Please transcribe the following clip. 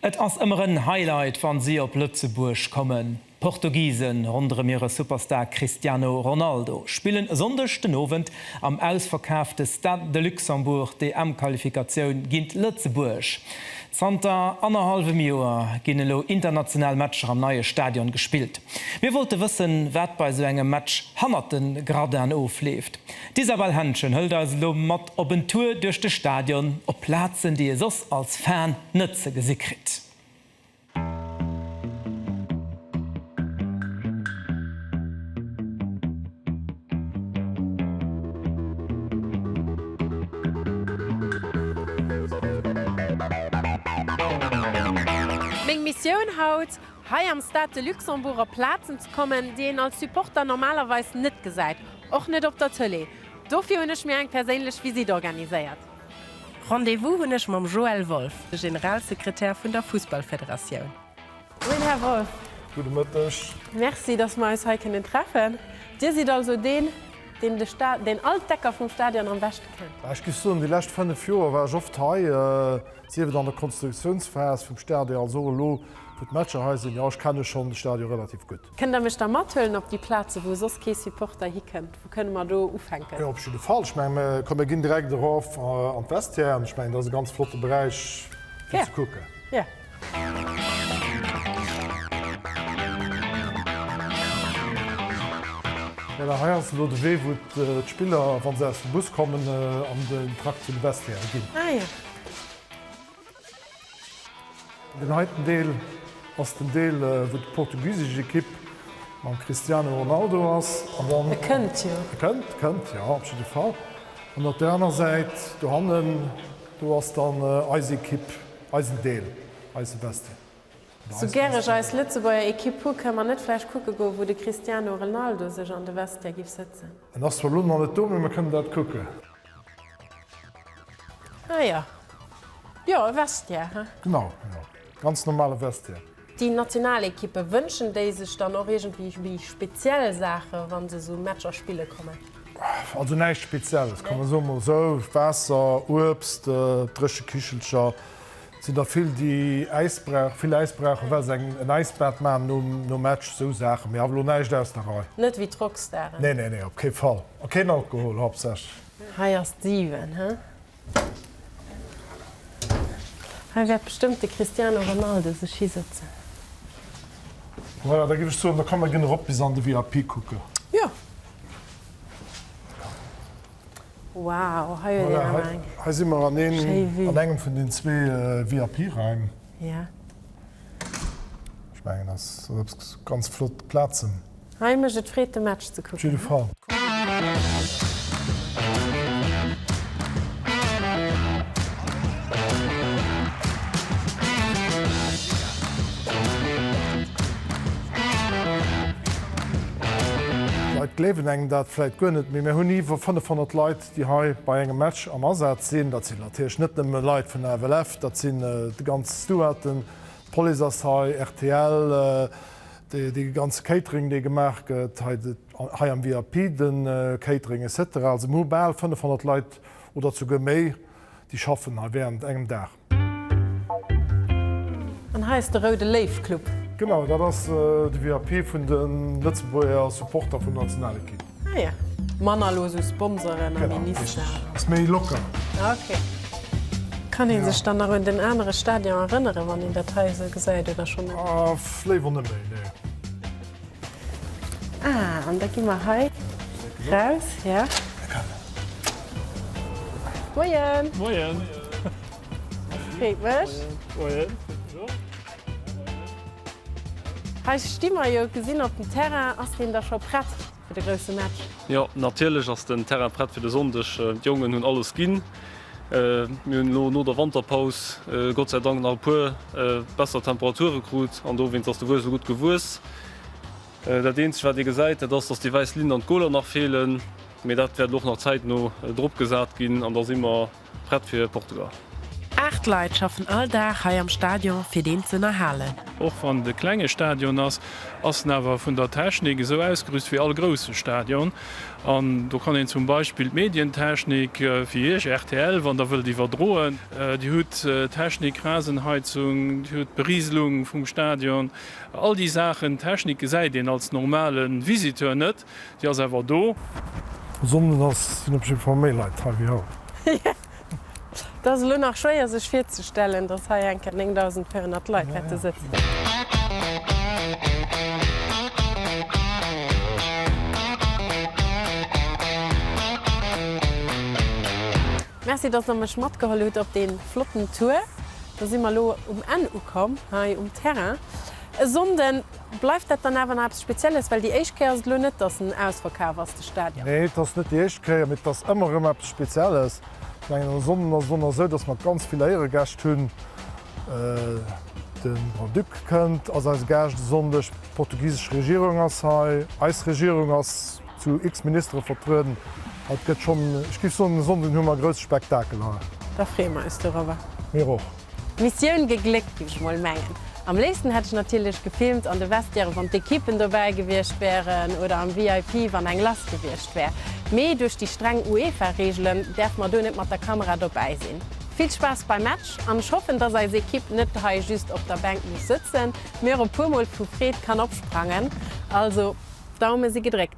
Et ass ëmmer en Highlight wann si op Lëtzebuerg kommen. D'Portugisen ronderëm hire Superstar Cristiano Ronaldo spillen e Sonndeg den Owend am ausverkaafte Stade de Luxembourg d'EM-Qualifikatioun géint Lëtzebuerg. Zanter annerhallwem Joer ginn elo international Matcher am neie Stadion gespillt. Mir wollte wëssen, wat bei esou engem Match hannert de Gradinen ofleeft. D'Isabelle Henschen hëlt eis elo mat. Op en Tour duerch de Stadion op Plazen déi e soss als Fan net ze gesi kritt. Meng Missioun haut, hei am Stade de Luxembourg op Plazen ze kommen déi een als Supporter normalerweis net gesäit, och net op der Tëlee. Dofir hunn ech mir eng perséinlech Visitt organiséiert. Rendez-vous hunn ech mam Joël Wolff, de Generalsekretär vun der Fussballfederatioun. Moien, Här Wolff. Gudde Mëtteg. Merci, dass mer eis hei kënnen treffen. Dir sidd also deen, deen de Sta-, deen all d'Ecker vum Stadion am beschte kennt. Ech géif soen, déi lescht fënnef Joer war ech oft hei, sief et an der Konstruktiounsphas vum Stadion als och elo, wou d'Matcher hei sinn. Jo, ech kenne schonn de Stadion relativ gutt. Kënnt Der mech da mathuelen op déi Plazen, wou soss kee Supporter hikënnt? Wou kënne mer do ufänken? Jo, op jidde Fall. Ech menge mer kommen ginn direkt erof an d'Vestiaire an ech mengen, dat ass e ganz flotte Beräich fir ze kucken. Yeah. Jo, da hei ass elo de Wee, wou d'Spiller, wa se aus dem Bus kommen, an den Trakt zu de Vestiairen ginn. Ah jo. Den heiten Deel ass den Deel wou déi portugisesch Ekipp mam Cristiano Ronaldo ass. E kënnt jo. E kënnt, e kënnt, jo op jidde Fall. An op där aner Säit dohannen, do ass dann eis Ekipp, eisen Deel, eise Bestie. Sou gär ech eis Lëtzebuerger Ekipp hu, kënne mer net vläicht kucke goe wou de Cristiano Renaldo sech an de Vestiaire giff sëtzen? En ass zwar elo nach net do, mee mer kënnen dat kucken. Ah ja. Jo, e Vestiaire, he? Genau, genau. Ganz normale Vestiaire. Déi national Ekippe, wënschen déi sech dann och iergendwéi speziell Saachen, wa se esou Matcher spille kommen? Also näischt Spezielles, kann ee soen. Soss, Waasser, Uebst, dréche Kichelcher. Et sinn der vill, déi Äisbrauch, vill Äisbrauchen, well se eng, en Äisbad maachen nom, nom Match, esou Saachen. Mee awer elo näischt aus der Rei. Net wéi d'Rockstaren. Nee, nee, nee, op kee Fall. A keen Alkohol, haaptsächlech. Hei ass d'Siwen, hä? Hei wäert bestëmmt de Cristiano Ronaldo sech hisëtzen. Voilà, da géif ech soen, da komm, mer ginn erop bis an de VIP kucken. Jo. Wow, hei huet een awer eng. Voilà, hei si mer an engem vun den zwee VIP-Raim. Jo. Ech mengen, ass eppes ganz flott Plazen. Hei mécht et Freed, de Match ze kucken. Op jidde Fall. Leit gleewen engem dat vläit guer net, mee mir hunn iwwer 500 Leit, déi hei bei engem Match am Asaz sinn. Dat sinn natierlech net nëmme Leit vun der FLF, dat sinn déi ganz Stewarden, d'Police ass hei, rtl, dee ganze Catering, dee gemaach gëtt hei am VIP, de Catering et cetera. Also mir hu bal 500 Leit oder souguer méi, déi schaffen hei wärend engem Dag. An hei ass de Roude Léiw Club. Genau, dat ass de VIP vun de Lëtzebuerger Supporter vun der Nationalekipp. Ah jo, manner elo esou Sponsoren a Minister. Genau, richtig. Ass méi locker. Okay. Kann ee sech dann nach un den anere Stadion erënneren, wann een dat hei esou gesäit, oder schonn net? Léiwer net méi, nee. Ah, an da gi mer hei raus, ja. Moien! Moien! Freet mech. Moien. Hei sti mer jo, gesinn op dem Terrain. Ass deen da scho prett fir de grousse Match? Jo, natierlech ass den Terrain prett fir de Sonndeg. D'Jongen hunn alles ginn. Mir hunn elo no der Wanterpaus Gott sei Dank nach e puer besser Temperature krut an dowéinst ass de Wues elo gutt gewuess. Dat eenzegt wat ee gesäit, dat ass, dass déi wäiss Linn an d'Goler nach feelen, mee dat wäert elo och nach zäitno drop gesat ginn an da si mer prett fir Portugal. Aacht Leit schaffen all Dag hei am Stadion fir deen z'ënnerhalen. Och wann et e klenge Stadion ass, ass en awer vun der Technik esou ausgerüst wéi all grousse Stadion. An do kann een zum Beispill d'Medientechnik, wéi Iech, rtl, wann Der wëllt iwwerdroen. Dir hutt d'Technik, Rasenheizung, Dir hutt d'Berieselung vum Stadion, all déi Saachen. D'Technik gesäit een als normale Visiteur net, déi ass awer do. Sonndes ass, sinn op jiddwer Fall méi Leit hei wéi haut. Et ass elo nach schwéier sech virzestellen, datt hei enker 9.400 Leit wäerte sëtzen. Merci, datt der mech matgeholl hutt op dee flotten Tour. Da si mer elo um Enn ukomm hei um Terrain. E Sonnden. Bleift dat dann awer nach eppes Spezielles? Well déi éischt Kéier ass et elo net, datt en ausverkaf ass, de Stadion. Nee, et ass net déi éischt Kéier, mee et ass ëmmer erëm eppes Spezielles. Ech mengen, en Sonnden ass et och nach esou, datt mer ganz vill Éieregäscht hunn. De Grand-Duc kënnt, ass eise Gaascht e Sonndeg, d'portugisesch Regierung ass hei, eis Regierung ass zu x Ministere vertrueden. Also et gëtt schonn, ech géif soen, e Sonnden hu mer e grousse Spektakel hei. Da freeë mer eis dorëwwer. Mir och. Missioun gegléckt géif ech mol mengen. Am léifsten hätt ech natierlech gefilmt an de Vestiairen wann d'Equippen dobäi gewiescht wären oder am VIP wann eng lass gewiescht wär, mee duerch déi streng UEFA Reegelen däerfe mer do net mat der Kamera dobäi sinn. Vill Spaass beim Match an ech hoffen dass eis Equipe net hei just op der Bänk muss sëtzen, mee och e puer mol vu Freed kann opsprangen. Also Daume si gedréckt.